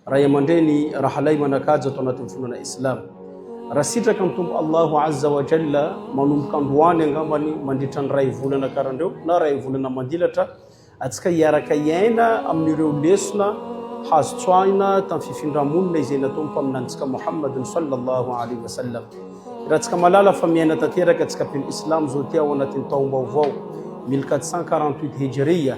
Ray aman-dreny, rahalahy manan-kaja ato anatin'ny finoana Islamo. Raha sitraka ny Tompo Allahu Azza wa Jalla, manomboka androany angambany mandritra ny iray volana karandrao na iray volana mandilatra antsika hiaraka hiaina amin'ireo lesona hazo tsoahina tamin'ny fifindra-monina izay nataon'ny Mpaminanintsika Muhammadun Sallallahu Alaihi Wasallam. Hirantsika malala fa miaina tanteraka antsika mpino Islamo izao ity ao anatin'ny taom-baovao 1448 Hijriya.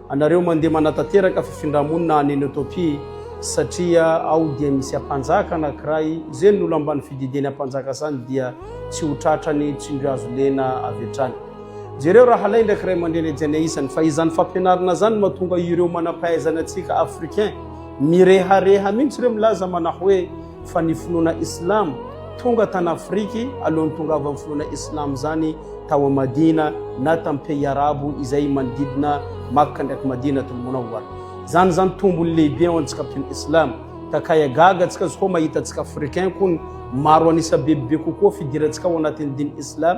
Anareo mandeha manatanteraka fifindra-monina any Notopia satria ao dia misy ampanjaka anakiray ze ny olambany fidideny ampanjaka zany dia tsy ho tratrany tsindrio azo lena avy hatrany. Jereo rahalahy ndraiky ray aman-dreny hajaina isany fa izany fampianarana zany matonga ireo manam-pahaizana antsika africain mirehareha mintsy reo milaza manahoe fa ny finoana islam tonga tany Afrique alohan'ny tongavan'ny finoana islam zany tao am Madina na tam pays arabo izay manodidina Makka ndraiky Madinatul Munawwar zany zany tombony lehibe ao antsika mpino islam ka kaya gaga tsika zkao mahita tsika africain kony maro anisa bebe kokoa fidirantsika ao anatin'ny diny islam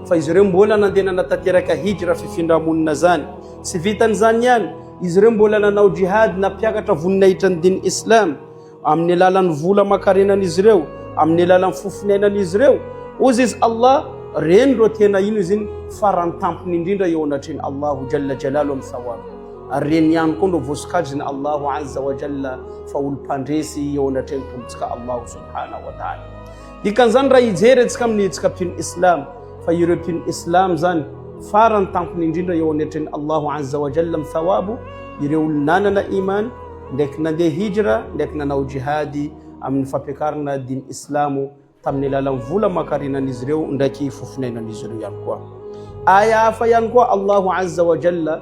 Fa izy ireo mbola nandeha nanatanteraka hijra, fifindra-monina, izany. Tsy vitan'izany ihany, izy ireo mbola nanao jihad, nampiakatra voninahitran'ny diny islam, amin'ny alalan'ny vola aman-karenan'izy ireo, amin'ny alalan'ny fofoniainan'izy ireo. Hozy izy, Allah, Reny ireo tena hino izy iny farany tampony indrindra eo anatrehan'i Allahu Jalla Jalaluh amin'ny thawab. Ary reny ihany koa no voasokajin'i Allahu Azza wa Jalla fa olom-pandresy eo anatrehan'ny Tompontsika Allahu Subhanahu wa Ta'ala. Dikan'izany raha hijery antsika amin'ny hetsika mpino Islam fa ireo mpino Islam zany farany tampony indrindra eo anetren'i Allahu Azza wa Jalla amin'ny thawabo ireo olona nanana iman ndraiky nandeha hijra ndraiky nanao jihady amin'ny fampiakarana diny Islamo tamin'ny alalan'ny vola aman-karenan'izy ireo ndraiky fo finainan'izy ireo ihany koa. Aya hafa ihany koa Allahu Azza wa Jalla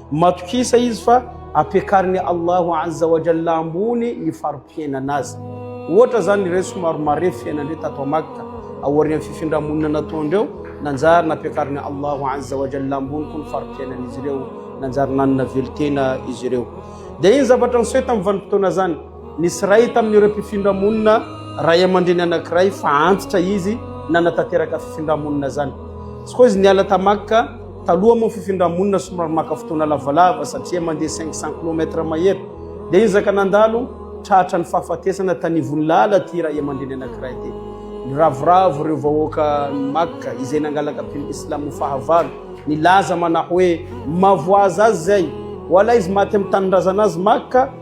Matokisa izy fa ampiakarin'i Allahu Azza wa Jalla ambony ny fari-piainana azy. Ohatra izany ireny somary marefo fiainandreo tato Makka, aorian'ny fifindra-monina nataondreo, nanjary nampiakarin'i Allahu Azza wa Jalla ambony koa ny fari-piainan'izy ireo, nanjary nanana velon-tena izy ireo. Dia iny zavatra niseho tamin'ny vanim-potoana izany, nisy iray tamin'ireo mpifindra-monina ray aman-dreny anankiray fa antitra izy nanatanteraka fifindra-monina izany. Tsy koa izy niala ta Makka, Taloha moa ny fifindra-monina somary maka fotoana lavalava satria mandeha cinq cent kilomètre mahery dia hiezaka nandalo tratra ny fahafatesana tanivon'lala ity ray aman-dreny anankiray ity. Niravoravo ireo vahoaka ny Makka izay nangalaka mpino islamo fahavalo nilaza manao hoe, Mavoaza azy izay, ho alaizy maty amin'ny tanindrazana azy Makka,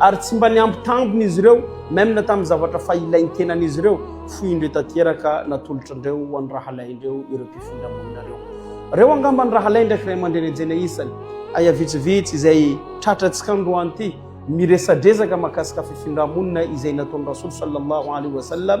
ary tsy mba niampy tambiny izy ireo, même na tamin'ny zavatra fa ilain'ny tenan'izy ireo, foy indreo tanteraka natolotra indreo ho an'ny rahalahy indreo ireo mpifindra monina ireo. Reo angamba ny rahalahy ndraiky ray aman-dreny enjehina isany. Aya vitsivitsy izay tratra antsika androany ity, miresadresaka mahakasika fifindra-monina izay nataon'i Rasool Sallallahu Alaihi Wasallam,